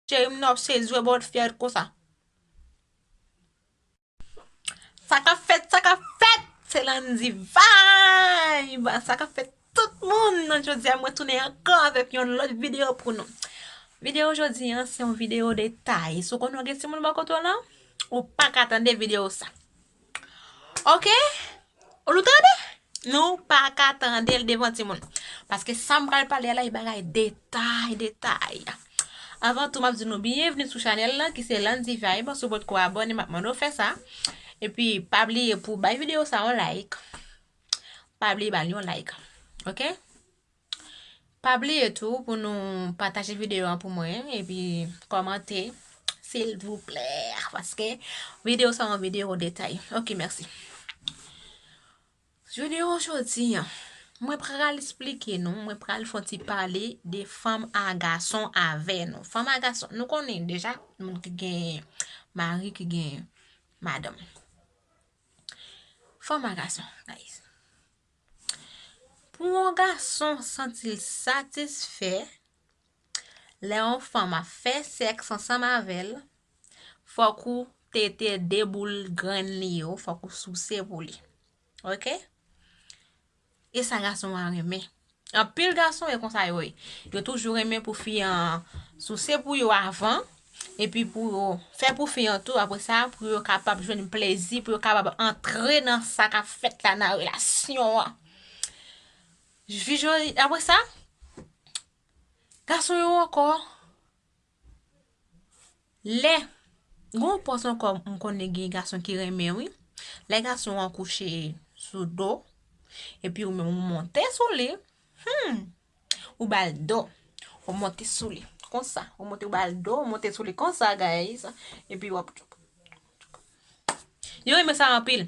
Cherim nan wap sezi wè bon fèt konsa. Sa kap fèt sa kap fèt se Landy vibe sa kap fèt tout moun nan jodi a mwen tounen ankò avèk yon lòt video pou nou video jodi an se yon video detay si w konnen w gen timoun bò kote w lan ou paka tande video sa. Ok Nou tande Nou pa ka tande l devan timoun Paske sa m pral pale a la e bagay detay detay Avan tou m ap di nou byenvni sou chanèl la ki se Landy Vibe Si w potko abòne m ap mande w fè sa Epi pa bliye pou w bay videyo sa yon like Pa bliye ba l yon like Ok Pa bliye tou pou nou pataje videyo an pou mwen epi kòmante silvouplè paske videyo sa yon videyo detay. Ok mèsi. Videyo jodi an, mwen pral esplike nou, mwen pral fon ti pale de fanm a gason avè nou. Fanm a gason, nou konnen deja moun ki gen mari, ki gen madanm. Fanm a gason, guys. Pou yon gason santi l satisfè lè yon fanm ap fè sèks ansanm avè l, fòk ou tete 2 boul grenn li yo, fòk ou souse pou li. Ok. E sa gason an renmen. Anpil gason e konsa yo ye. Yo toujou renmen pou fi an souse pou yo avan, epi pou yo fè pou fi an tou apre sa pou yo kapab jwenn plezi pou yo kapab antre nan sa k ap fèt la nan relasyon an fi yo apre sa gason yo ankò lè gon pòs ankò m konnen gen gason ki renmen wi lè gason an kouche sou do epi ou menm ou monte sou li humm Ou bal do. Ou monte sou li. Konsa. Ou monte ou bal do. Ou monte sou li konsa guys. E pi wap. Yo reme sa anpil.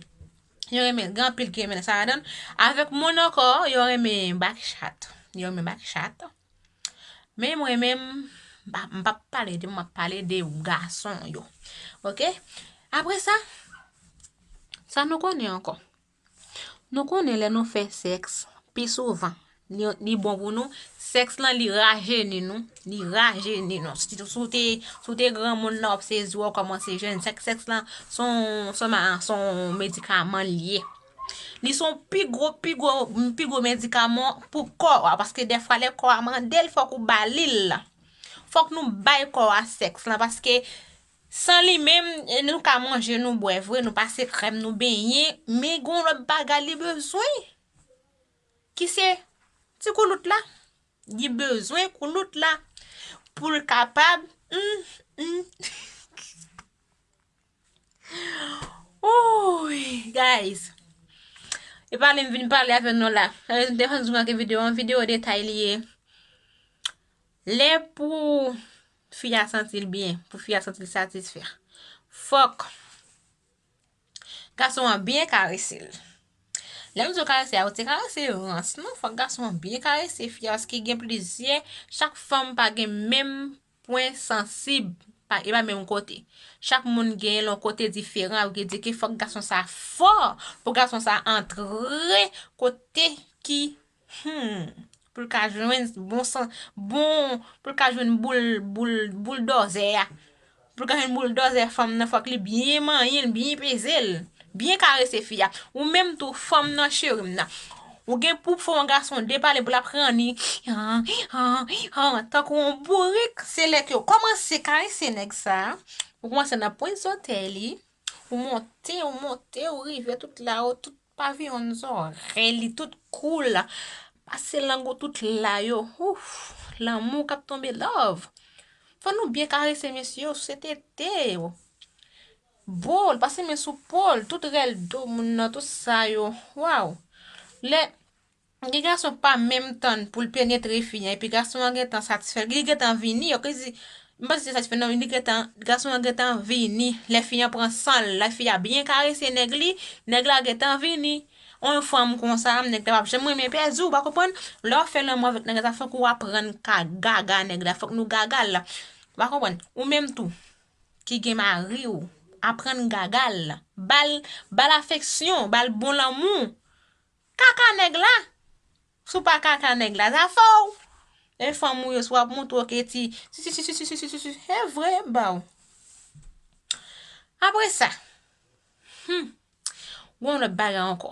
Yo reme. Gan anpil ki reme sa adan. Avek moun anko. Yo reme bak chat. Yo reme bak chat. Men mwen men. M pap pale de moun. M pale de ou gason yo. Ok. Apre sa. Sa nou konnen anko. Nou konnen lè nou fè sèks pi souvan li bon pou nou, sèks lan li rajeni nou, li rajeni nou, si w te, si w te granmoun la w ap sezi w kòmanse jèn, sèks, sèks lan son medikaman li ye. Li son pi gwo, pi gwo, pi gwo medikaman pou kò a, paske defwa lè kò a mande l fòk ou ba li l, fòk nou bay kò a sèks lan paske San li menm, nou ka manje, nou bwè vre, nou pase krèm, nou benyen, men gen yon lòt bagay li bezwen, ki se ti koulout la. Li bezwen koulout la pou l kapab, m, m, Oouyy! Guys, e pale m vin pale avè nou la. Anmweyy, m te rann di nou anke videyo an, videyo detay li ye. Lè pou. fi a santi l byen, pou fi a santi l satisfè, fòk gason an byen karese l. Lè m di w karese a, yo te karese rans non, fòk gason an byen karese fi a paske gen plizyè, chak fanm pa gen menm pwen sansib, e pa menm kote. Chak moun gen yon kote diferan, yo di ke fòk gason sa fò, pou gason sa antre kote ki Humm pou l ka jwenn bon san bon pou l ka jwenn boul boul boul dòzè a pou l ka jwenn boul dòzè fanm nan fòk li byen manyen l byen peze l byen karese fi a ou menm tou fanm nan cheri m nan ou gen pou fè yon gason depale pou l ap ranni han han han tankou yon bourik se lè ke w kòmanse karese nèg sa ou kòmanse nan pwent zòtèy li ou monte ou monte ou rive tout la ou tout Pavillon zòrèy li tout cool pase lang ou tout la yo ouff lanmou kap tonbe love fò nou byen karese mesye yo souse tete yo bol pase men sou pol tout rèl do moun nan tout sa yo waww lè Gen gason ki pa menm tann poul penetre fi an epi gason an gentan satisfè li gentan vini ok di m pa di se satisfè non li gentan gason an gentan vini lè fi an pran sanl lè fi a byen karese nèg li nèg la gentan vini on fanm konsa nèg la pap janm renmen pèdi ou pa konprann lè wap fè lanmou avèk nèg la sa fòk ou aprann ka gaga nèg la fòk nou gagal ou pa konprann ou menm tou ki gen mariw aprann gagal bal bal afeksyon bal bon lanmou Kaka nèg la Si w pa kaka nèg la zafè w E fanm ou yo si w ap montre w ke ti sisisisisisisi E vre e ba w Apre sa Humm Gen yon lòt bagay ankò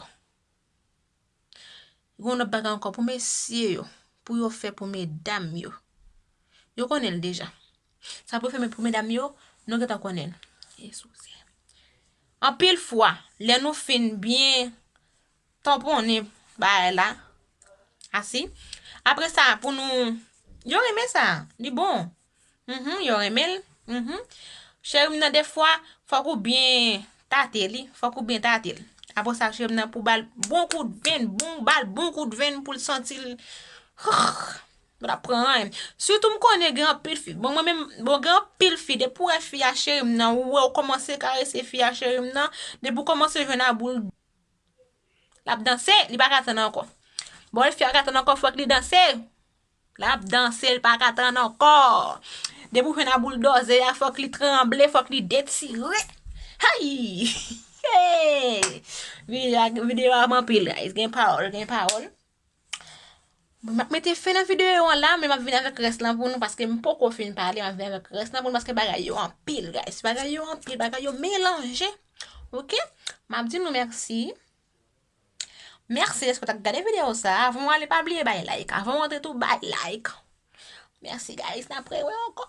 Gen yon lòt bagay ankò pou mesye yo Pou yo fè pou medam yo Yo konnen l deja Sa pou fèmen pou medam yo, nou gentan konnen l. E sousè. Anpil fwa, lè nou fin byen tanponnen bagay la, asi, apre sa pou nou, yo renmen sa, li bon. Mh, yo renmen l, mh. Cheri m nan defwa, fòk ou byen tate li, fòk ou byen tate l. Apre sa cheri m nan pou ba l bon kout venn, bon ba l bon kout venn pou l santi l, hhh. Mwen tap pran anyn. Sitou m konnen gen anpil fi. Bon mwen menm, bon gen anpil fi depi ou wè fi a cheri m nan, ou wè ou kòmanse karese fi a cheri m nan, depi ou kòmanse jwenn a boul lap danse, li paka tann ankò. Bon lè fi a paka tann ankò fòk li danse, lap danse li paka tann ankò. Depi ou jwenn a boul dòze a fòk li tranble, fòk li detire. Ayy! Hee! Video a, video a anpil guys, gen pawòl, gen pawòl. Mwen ap mete fen nan videyo an la, men map vin avèk rès lan pou nou paske m poko fin pale, map vin avèk rès lan pou nou paske bagay yo anpil guys, bagay yo anpil, bagay yo melanje. Ok, map di nou mèsi. Mèsi dèske w t ap gade videyo sa, avan mwen ale pa bliye bay like, avan mwen antre tou bay like. Mèsi guys, n ap re wè ankò.